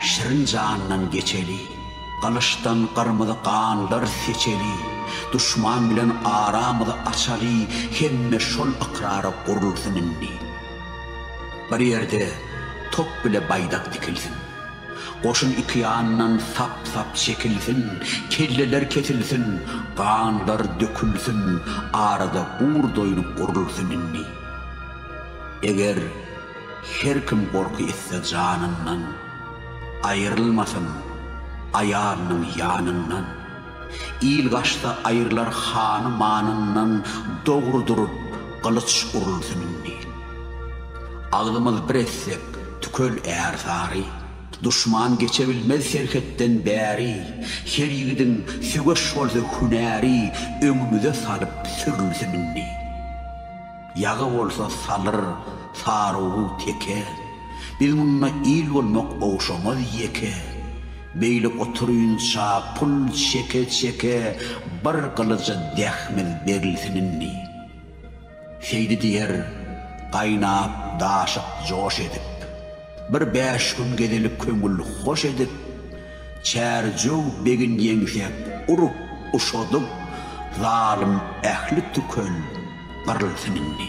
Şirin jandan geçeli, Gylyçdan gyrmyzy ganlar seçeli, Duşman bilen aramyzy açaly, Hemme şol ykrara gurulsyn indi. Bir ýerde top bile baýdak dikilsin, Goşun iki ýandan sap-sap çekilsin, Kelleler kesilsin, ganlar dökülsin, Arada bugurdoýluk gurulsyn indi. Eger. Her kim gorky etse janyndan, Aýrylmasyn aýalynyň ýanyndan. Il gaçsa aýrylar hany manyndan, Dogry durup gylyç urulsyn indi. Agzymyz bir etsek tükel ärsary, Duşman geçe bilmez serhetden bäri. Her ýigidiň söweş bolsa hünäri, Öňümize salyp sürülsün indi. Ýagy bolsa salyr, sarugy teke, Biz munda il bolmak ogşamaz ýeke. Beýle oturynça pul çeke-çeke, Bir gylyja dehmiz berilsin indi. Seýdi diýer, gaýnap, daşyp, joş edip. Bir bäş gün gezelik köňül hoş edip, Çärjew begin ýeňsäp urup, uşadyp, Zalym ähli tükel gyrylsyn indi.